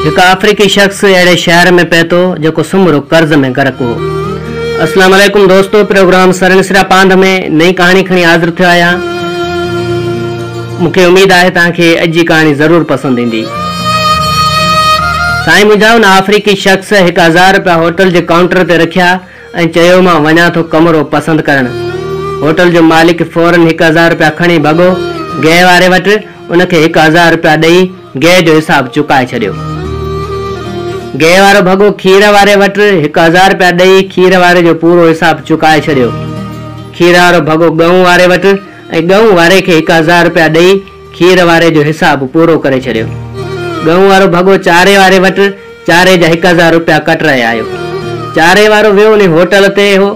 هڪ آفريڪي شخص اهڙي شهر ۾ پهتو جيڪو سمورو قرض ۾ غرق هو. السلام عليڪم دوستو پروگرام سرنسرا پانڌ ۾ نئين ڪهاڻي کڻي حاضر ٿيو آهيان مون کي اميد آهي توهان کي اڄ جي ڪهاڻي ضرور پسند ايندي سائين منهنجا ان آفريڪي شخص هڪ هزار رپيا هوٽل جي ڪائونٽر تي رکيا ۽ چيو مان وڃان ٿو ڪمرو پسند ڪرڻ. هوٽل جو مالڪ فورن هڪ هزار رپيا کڻي ڀڳو گيهه واري وٽ ان کي هڪ هزار رپيا ڏئي گيهه جو حساب چڪائي ڇڏيو. گيهه وارو ڀڳو کير واري وٽ هڪ هزار رپيا ڏئي کير واري جو پورو حساب چڪائي ڇڏيو. کير وارو ڀڳو ڳئون واري وٽ ۽ ڳئون واري کي هڪ هزار رپيا ڏئي کير واري جو حساب پورو ڪري ڇڏيو. ڳئون وارو ڀڳو چاري واري وٽ چاري جا هڪ هزار روپيا ڪٽ رهي آيو. چاري وارو ويو انهي هوٽل تي هو،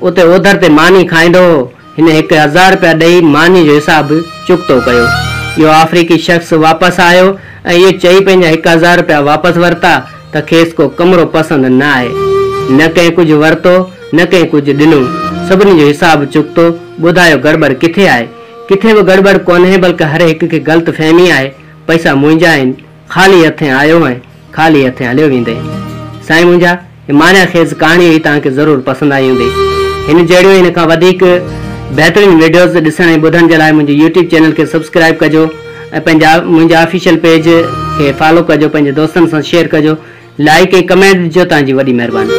اتي اوڌر تي ماني کائيندو هو، هن هڪ هزار روپيا ڏئي ماني جو حساب به چڪتو ڪيو. اهو آفريڪي شخص واپس آيو ۽ اهو چئي پنهنجا هڪ هزار روپيا واپس ورتا ته کيس ڪو ڪمرو پسند نه آهي. نه ڪنهن ڪجهه ورتو نه ڪنهن ڪجهه ڏنو. سڀني جو حساب چڪتو، ٻڌايو گڙٻڙ ڪٿي آهي؟ ڪٿي به گڙٻڙ ڪونهي بلڪ هر هڪ کي غلط فهمي آهي پئسا منهنجا آهن خالي هٿين آيو هئين خالي هٿين هليو ويندين سائين منهنجا هي معنيٰ خيز ڪهاڻي هئي توهان کي ضرور پسند آئي هوندي هن جهڙيون هن کان وڌيڪ بهترين وڊيوز ڏسڻ ۽ ٻڌڻ جي لاء منهنجي يوٽيوب چينل کي سبسڪرائب ڪجو ۽ پنهنجا منهنجا آفيشل پيج کي فالو ڪجو پنهنجي دوستن سان شيئر ڪجو لائيڪ ۽ ڪمينٽ ڏجو تان جي وڏي مهرباني.